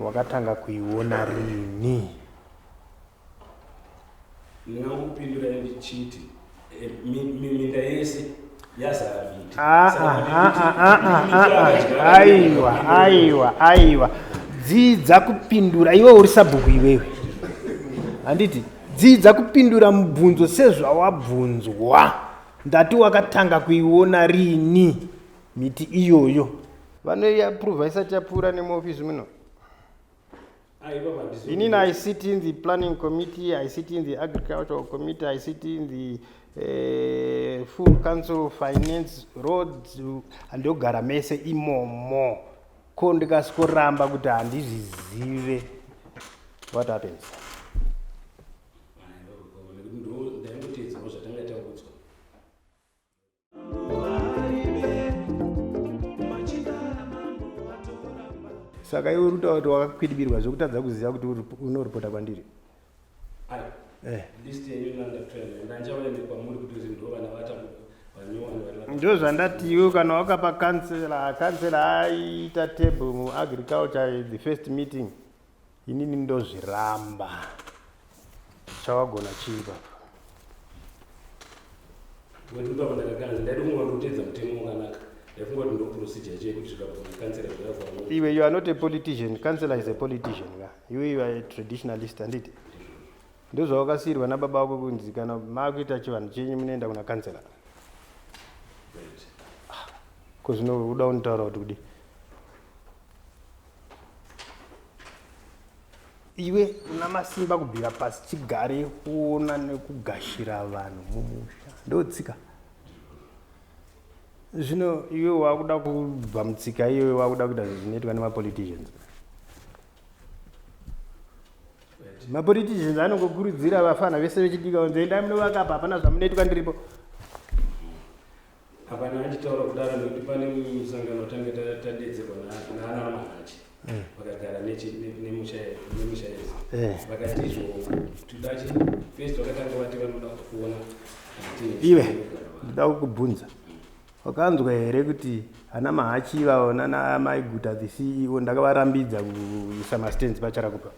Wakatanga kuiona rini? Ndingamupindura ndichiti eh, mi- mi- minda yese yazara miti. Ah, Saka ah, kuti- ah, kuti- ah, ah, ah, kuti ah, akadyara ah. miti, aiwa ndinopindura. aiwa aiwa dzidza kupindura iwe uri sabhuku iwewe handiti dzidza kupindura mubvunzo sezvawabvunzwa ndati wakatanga kuiona rini miti iyoyo vanoiaprova isati yapfuura nemuofisi muno inini i sit in the planning committee i sit in the agricultural committee i sit in the uh, full council finance roads handogara mese imomo ko ndikasikoramba kuti handizvizive what happens saka iwe urikutaura kuti wakakwidibirwa zvekutadza kuziva kuti unoripota kwandiri eh. ndo zvandati iwe kana wakapa kansela kansela aiita table muagriculture the first meeting Inini ndozviramba. Chawagona chii baba? Wedu baba ndakakanzi ndaida kungoona kutedza mutemo wakanaka. Ndaifungwa kuti ndoprocedure chete kuti zvikabvuma kansela zvakavamo. Iwe you are not a politician. Councillor is a politician. ka. You you are a traditionalist handiti? Ndozvawakasiirwa nababa wako kunzi kana makuita chivanhu chenyu munoenda kuna councillor. Right. Ko zvino uda unitaura kuti kudi. iwe una masimba kubvira pasi chigare kuona nekugashira vanhu mumusha ndotsika zvino iwe wakuda kubva mutsika iyoyo wakuda kuita zvinoitwa nemapoliticians mapoliticians anongokurudzira vafana vese vechidika kunzi endai munovakapa hapana zvamunoitwa ndiripo Hapana achitaura kudaro nekuti pane musangano watange tadedzerwa naana Mahachi eh. vakagara nemusha yesu eh. vakati izvo tudachi first vakatanga vati vanoda kuona iwe ndida kukubvunza wakanzwa here kuti ana mahachi ivavo nana mai guta the ceo ndakavarambidza kuisa mastands pacharakupa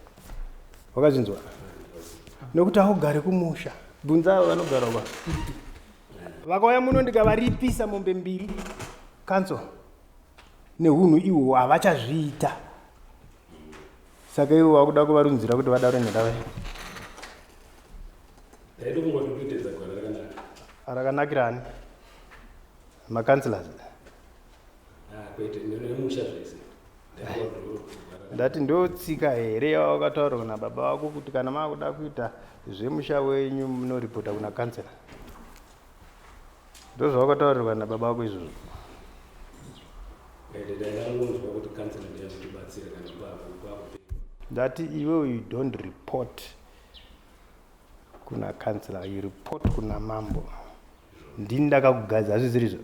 wakazvinzwa nekuti augare kumusha bvunza avo vanogara kwa vakauya muno ndikavaripisa mombe mbiri kanso nehunhu ihwo havachazviita saka ivo vakuda kuvarunzira kuti vadaro nyakava rakanakirani makansilasi ah, kwete nemusha zvese ndati ndotsika here yawakataurwa nababa vako kuti kana maakuda kuita zvemusha wenyu munoripota kuna kansela ndozvawakataurirwa nababa vako izvozvo ndati iwe you don't report kuna kansela you report kuna mambo ndini ndakakugadza hazviziri zvo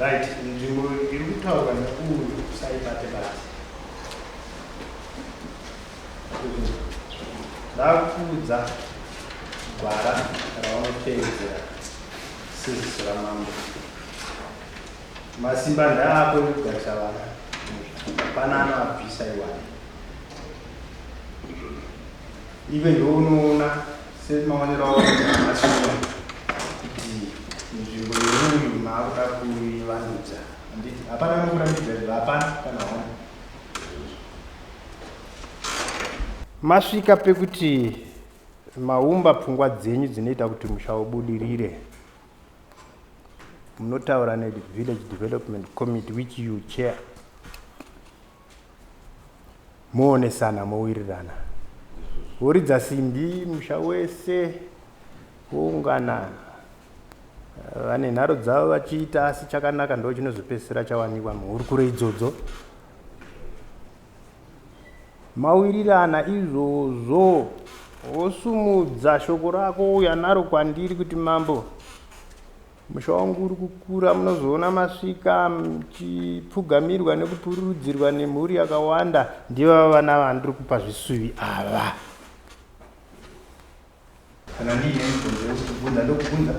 Right, nzvimbo iri kutaurwa nekuuyu usaibate basi. Ndakuudza gwara raunotevedzera seziso ramambo. Masimba ndaako ekugarisa vana. Hapana anoabvisa iwani. Iwe ndounoona semaonero awaita mashina kuti nzvimbo yemunhu maakuda kuivandudza handiti hapana anokurambidza izvo hapana kana hona masvika pekuti maumba pfungwa dzenyu dzinoita kuti musha ubudirire munotaura nevillage development committee which you chair Moonesana mowirirana. Woridza simbi musha wese woungana vane nharo dzavo vachiita asi chakanaka ndo chinozopedzisira chawanikwa muhurukuro idzodzo mawirirana izvozvo wosumudza shoko rako uya naro kwandiri kuti mambo Musha wangu uri kukura, munozoona masvika muchipfugamirwa nekupururudzirwa nemhuri yakawanda. Ndivava vana vandiri kupa zvisuvi ava. Kana ndiine mibvunzo yekukubvunza ndokubvunza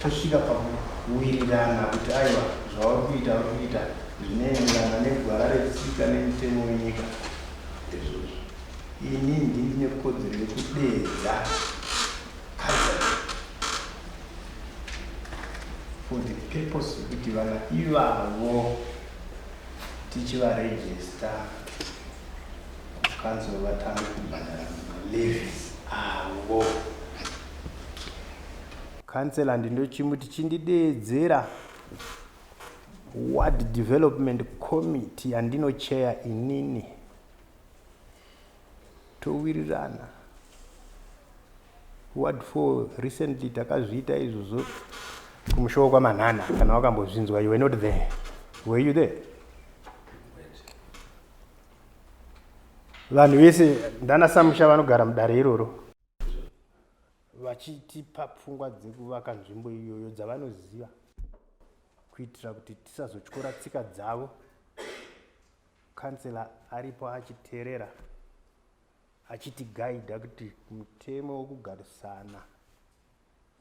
tosvika pakuwirirana kuti aiwa zvauri kuita uri kuita zvinoenderana negwara retsika nemitemo wenyika ndezvozvo ini ndini nekodzero yekudeedza for the purpose yekuti vana ivavo tichivarejista kanzuro vatanga kubhadhara malevis avo kansela ndindochimuti chindideedzera ward development committee yandinocheya inini Towirirana what for recently takazviita izvozvo kumusha wekwamanhana kana wakambozvinzwa you were not there were you there vanhu vese ndana samusha vanogara mudare iroro vachitipa pfungwa dzekuvaka nzvimbo iyoyo dzavanoziva kuitira kuti tisazotyora tsika dzavo kansela aripo achiterera achitigaidha kuti mutemo wokugarisana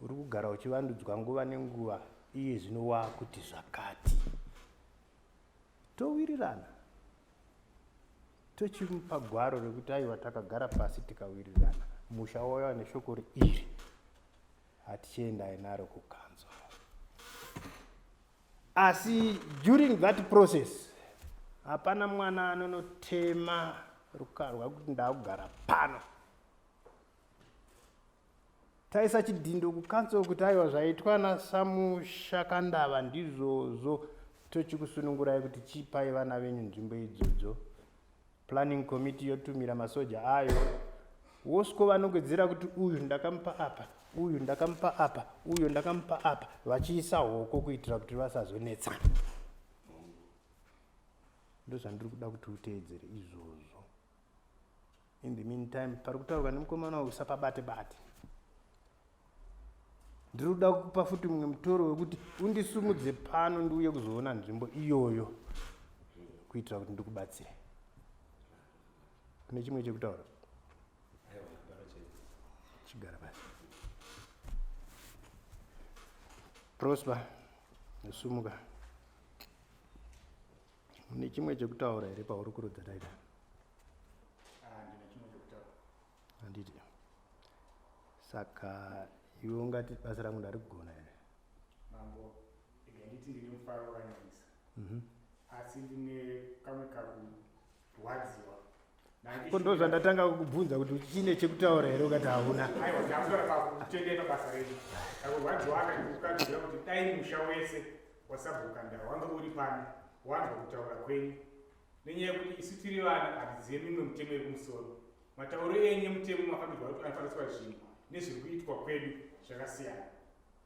uri kugara uchivandudzwa nguva nenguva iye zvino waakuti zvakati towirirana tochimupa gwaro rekuti aiwa takagara pasi tikawirirana musha waiva neshoko reiri hatichiendai naro kukanzo asi during that process hapana mwana anonotema rukarwa kuti ndakugara pano taisa chidhindo kucouncil kuti aiwa zvaitwa nasamushakandava ndizvozvo tochikusunungurai kuti chipai vana venyu nzvimbo idzodzo planning committee yotumira masoja ayo wosiko vanogwedzera kuti uyu ndakamupa apa uyu ndakamupa apa uyu ndakamupa apa vachiisa hoko kuitira kuti vasazonetsana ndozvandiri kuda kuti uteedzere izvozvo in the meantime pari kutaurwa nemukomana uyu usapabate bate ndiri kuda kukupa futi mumwe mutoro wekuti undisumudze pano ndiuye kuzoona nzvimbo iyoyo kuitira kuti ndikubatsire kune chimwe chekutaura chigara pasi prosper nesumuka Une chimwe chekutaura here pahurukuro daida? Ah, ndine chimwe chekutaura. Handiti. Saka iwe ungati basa rangu ndari kugona here? Mambo, ndega nditi ndine mufaro wakanyanyisa. Mhm. Asi ndine kamwe kakurwadziwa ko ndo zvandatanga kukubvunza kuti chine chekutaura here ukati hauna nenyaya yekuti isu tiri vana hatizive mimwe mutemo yekumusoro matauro enyu emutemo makabirwa kuti anofana kuitwa zvinhu nezviri kuitwa kwedu zvakasiyana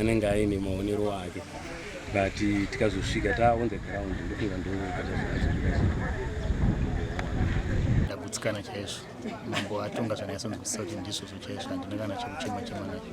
anenge aine maonero ake but tikazosvika ta on the ground ndokunga ndokutsikana chaizvo mambo atonga zvanyatsonzwisisa kuti ndizvozvo chaizvo handina kana chekuchema chema nacho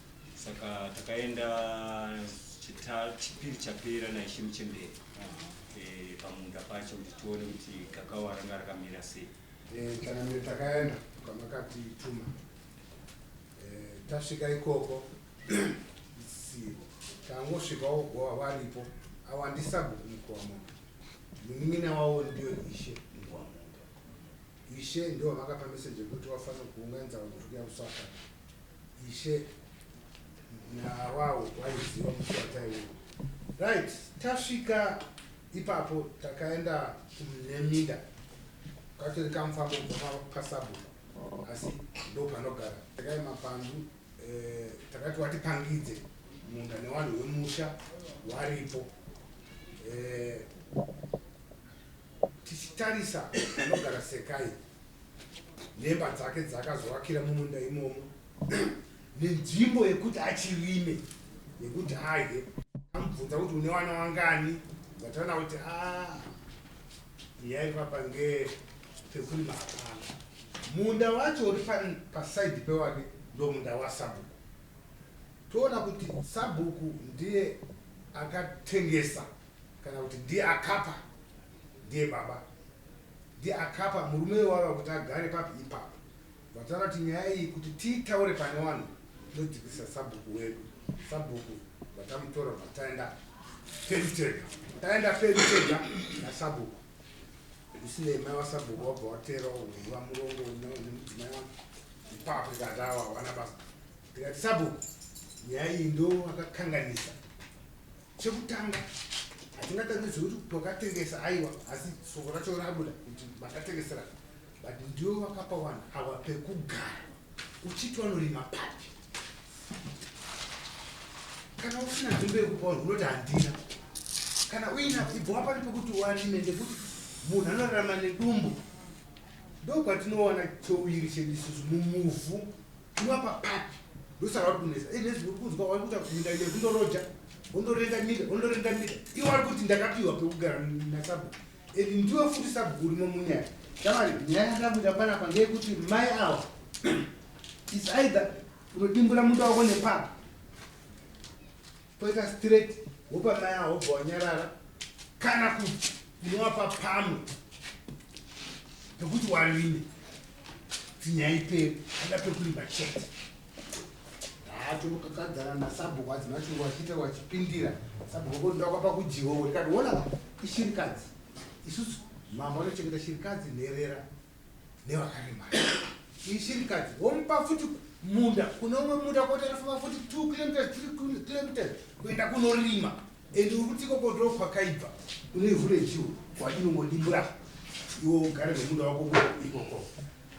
saka takaenda chita- chipiri chapera naishe muchembere Eh, pamunda pacho kuti tione kuti gakawa ranga rakamira sei Eh, chanamire takaenda kwamakatituma Eh, tasvika ikoko isivo tangosvika wogova varipo awandisa bhuku mukomo munin'ina wavo ndiyo ishe ishe ndivo vakapa meseji yekuti wafanira kuunganidza vanhu kuya kusaka Ishe nawawo waiziva musata iwoyo. Right, tasvika ipapo takaenda kuneminda katori kamufambo kubva pasabhuku asi ndo panogara takai mapandu eh, takati watipangidze munda newanhu wemusha waripo eh, tichitarisa panogara sekai Nhemba dzake dzakazovakira mumunda imomo nenzvimbo yekuti achirime nekuti adye. Amubvunza kuti une wana wangani Vatana kuti ah, yaipapa nge pekurima hapana. Munda wacho uri pasaidhi pewake ndomunda wasabhuku. Toona kuti sabhuku ndiye akatengesa kana kuti ndiye akapa Ndiye baba ndiye akapa murume iwava kuti agare papi ipapo vataura kuti nyaya iyi kuti tiitaure pane wanhu tinodzikisa sabhuku wedu sabhuku vatamutora vataenda pedu tega taenda pedu tega nasabhuku isinei mai wasabhuku wabva watera uva murongo nemudzimai wako ipapo ikatawa wana basa tikati sabhuku nyaya iyi ndo akakanganisa Chekutanga hatingatangidze kuti twakatengesa aiwa asi soko racho rabuda kuti vakatengesera but ndiwo vakapa vanhu ava pekugara uchiti vanorima papi kana usina nzvimbo yekupa vanhu unoti handina kana uina ibva wapani pekuti uarime ndekuti munhu anorarama nedumbu ndokwatinowana chouviri chedu isusu mumuvhu Ndiwa papapi ndosaka uri kunetsa ende zvinhu uri kunzwa wari kuita kuti minda ine kundoroja wondorenda minda wondorenda minda iwe wari kuti ndakapiwa pekugara nasabhuku and ndiwe futi sabhuku urimo munyaya shamari nyaya yandira kuita panapa ngeyekuti mai awa is either unodimbura munda wako nepapa Pweka straight wopa mai awo wobva wanyarara kana kuti unovapa pamwe pekuti warime dzinyai pedu ada pekurima chete haatokakadzana nasabhuku adzima chungu achiita wachipindira sabhuku wako ndoda kwapa kudyiwa wekati wona ishirikadzi isusu mambo anochengeta shirikadzi nherera nevakaremara iyi shirikadzi womupa futi munda kune umwe munda koti anofamba futi two kilometers three kilometers kuenda kunorima and uri kuti ikoko ndo kwakaibva une ivhu rechiwo kwainongodimbura iwo ugare nemunda wako ikoko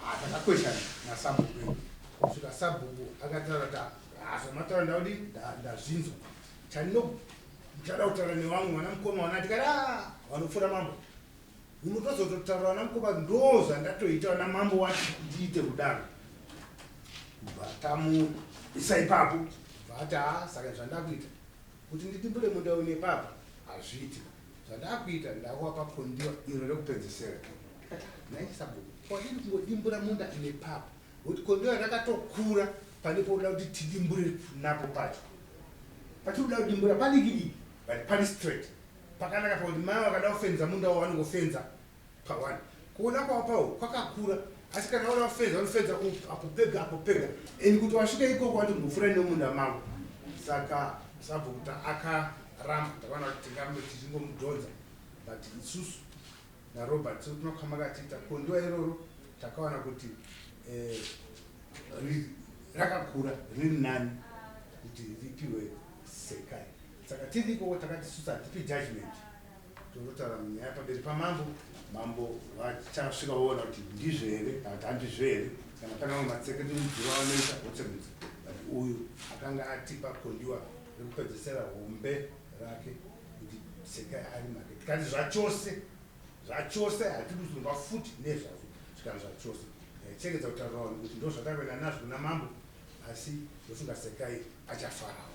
hatakakweshana ah, nasabhuku edu kusvika sabhuku akataura ta azomataura ndaudi ndazvinzwa chandinochada kutaura nevamwe vana mukoma vana tikati a ah, vanopfuura mambo unotozototaura vana mukoma ndoo zvandatoita vana mambo wati ndiite kudaro bvatamu isa ipapo bvati haa saka zvandakuita kuti nditimbure munda une papa hazviiti zvandakuita ndakuvapa kondiwa iro rekupedzesera naisabu kwadii kungodimbura munda une papa kuti kondiwa rakatokura pane poda kuti tidimbure napo pacho patinoda kudimbura padikidiki but pari straight Pakanaka pakuti mai vakada kufenza munda wavo vanongofenza pa one. Kuona kwavo pawo kwakakura asi kana vada kufenza vanofenza uku apo pega apo pega and kuti wasvika ikoko vati mbofura nemunda mavo saka sabhukuta akaramba takaona kuti tingambe tichingomudhonza but isusu narobert sekuti makama katiita kondiwa iroro takaona kuti eh, rakakura riri nani kuti ripiwe sekai Saka tiri ikoko takati isusu hatipi judgment tonotaura nyaya pamberi pamambo mambo vachasvika voona kuti ndizvo here kana kuti handizvo here kana pane vamwe matsekedurudziro vanoita votsemudza but uyu akanga atipa kondiwa rekupedzesera hombe rake kuti sekai ari make tikati zvachose zvachose hatidi kuzonwa futi nezvazvo zvikana zvachose eh, chengedza kutaura vanhu kuti ndozvatakuenda nazvo kuna mambo asi ndofunga sekai achafarawo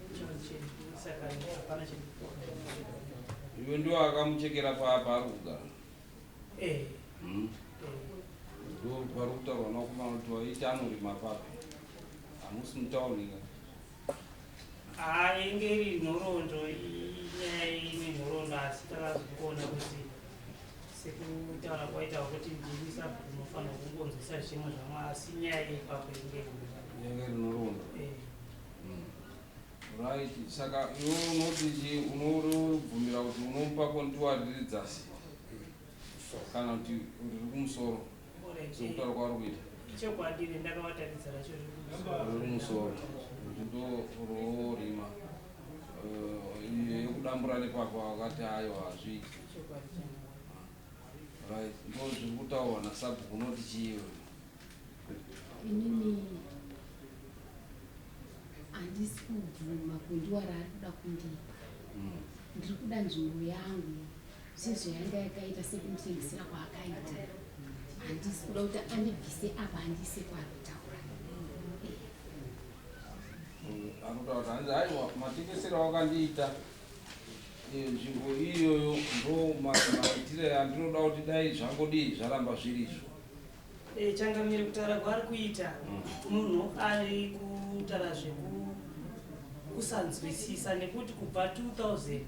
Iwe ndiwo akamuchekera paapa ari kugara. Eh. Hmm? Ndiwo vari kutaurwa nakumana kuti waiti anorima papi. Hamusi mutauni ka? Ah, inge iri nhoroondo inyaya ine nhoroondo asi takazokuona kuti sekutaura kwaita kuti ndimi sabhuku unofanira kungonzwisa zvimwe zvamwe asi nyaya ipapo inge inge iri nhoroondo. Eh. Right, saka iwe unoti chii? Unobvumira kuti unomupa kontiwa riri dzasi kana kuti riri kumusoro sekutaura kwauri kuita chokwadi ri ndakavataridza racho riri kumusoro kuti ndororima eh, yekudambura nepapa wakati ayo hazviiti right ndozviri kutaurwa nasabhuku unoti chii iwe inini handisi kubvuma kundiwa raari kuda kundipa hmm. ndiri kuda nzvimbo yangu sezvo yanga yakaita sekunditengesera kwaakaita handisi kuda kuti andibvise apa handise kwari kutaura anotaura kuti hanzi aiwa matengesero akandiita eh, nzvimbo iyoyo ndo maitire andinoda kuti dai zvangodii zvaramba zvirizvo Eh, changamire kutaura kwaari kuita munhu ari kutaura zvekusanzwisisa nekuti kubva 2000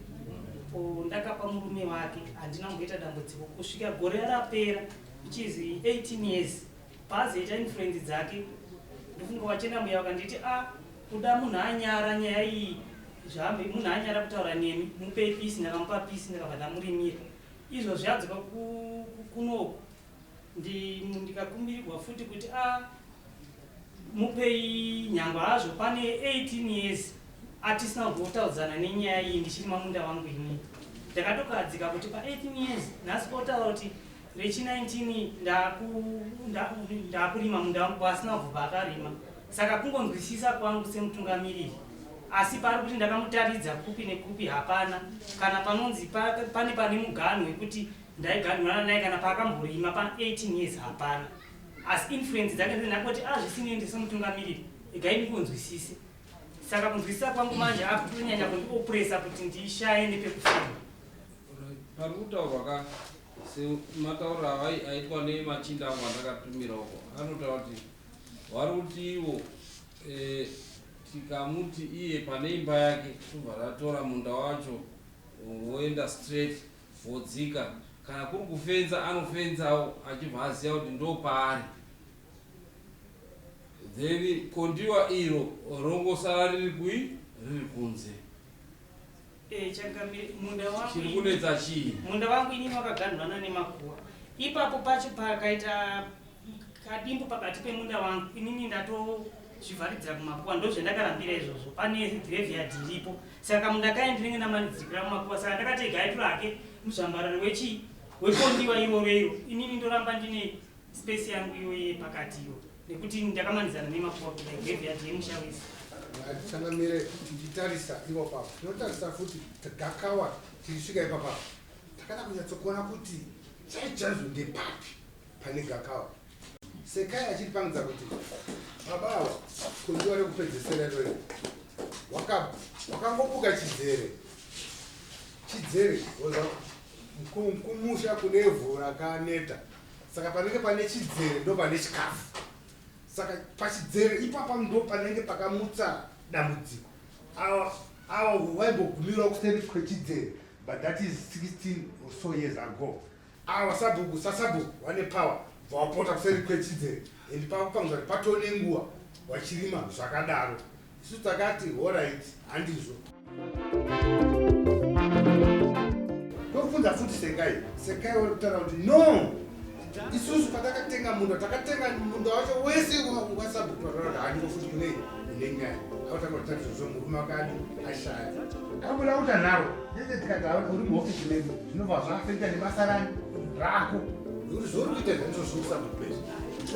ko ndakapa murume wake handina kumboita dambudziko kusvika gore rapera which is 18 years paazoita influence dzake ndofunga wachena muya wakanditi a ah, kuda munhu anyara nyaya iyi zvaambe munhu anyara kutaura nemi mupe pisi ndakamupa pisi ndakabva ndamurimira izvo zviadzoka kunoku Ndin, ndikakumbirirwa futi kuti a mupei nyangwe hazvo pane 18 years atisina kumbotaudzana nenyaya iyi ndichiri mamunda wangu ini. Ndakatokahadzika kuti pa 18 years nhasi otaura kuti rechi 19 ndaku, nda, ndakurima munda wangu kwaasina kubva akarima. Saka kungonzwisisa kwangu semutungamiriri asi pari kuti ndakamutaridza kupi nekupi hapana kana panonzi pa, pane pane muganhu wekuti Ndaigadhunana naye kana paakamborima pa 18 years hapana asi influence dzake ndinakoti azvisinei ah, ndisemutungamiriri igai ndikunzwisise saka kunzwisisa kwangu manje akutonyanya kundiopresa kuti ndishaye nepekufema pari kutaurwa ka semataura aitwa nemachinda angu andakatumira uko anotaura kuti wari kuti ivo eh, tikamuti iye pane imba yake tobva ratora munda wacho woenda straight Vodzika. Kana kuri kufenza anofenzawo achibva aziva kuti ndopaari. Then kondiwa iro rongosara riri kui riri kunze. Eh, changamire munda wangu. Chiri kunetsa chii? Munda wangu inini wakaganhurana nemakuva. Ipapo pacho pakaita kadimbu pakati pemunda wangu inini ndatozvivharidzira kumakuwa ndozvendakarambira izvozvo pane graveyard iripo saka kamunda kaye ndinenge ndamanidzikira mumakuwa saka ndakati ega aitwe hake muzvambarari wechii wekondiwa iroro iro inini ndoramba ndine space yangu iyoye pakati iyo nekuti ndakamanidzana nemakuwa kuda graveyard yemusha wese ndichanamire ndichitarisa ivo pavo ndinotarisa futi gakawa tichisvika ipapavo takada kunyatsokuona kuti chaichaizvo ndepapi pane gakava sekai achiri pangidza kuti baba ava kundiwa rekupedzesera irori wakangobuka chidzere chidzere oza kumusha kune vhu rakaneta saka panenge pane chidzere ndo pane chikafu saka pachidzere ipapa ndo panenge pakamutsa dambudziko awa awa waimbogumirwa kuseri kwechidzere but that is 16 or so years ago Awa sabhuku sasabhuku vane power bva wapota kuseri kwechidzere and pakupangisa kuti patoo nenguva wachirima zvakadaro isu takati horait handizvo ndofunza futi sekai sekai wari kutaura kuti no isusu patakatenga munda takatenga munda wacho wese wasabhuku vataura kuti handiko futi kunei Nenga akatanga kutanga zvozvo murume akati ashaya. Akabuda kuti anaro. Ndese tikagara uri muhofisi medu zvinobva zvaafekta nebasarani rako. Zvekuti zvouri kuita zvaizvo zvokusabhuku pese.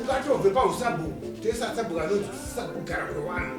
Ungatobve pausabhuku tese asabhuku anonzi kusabhugara kwewanhu.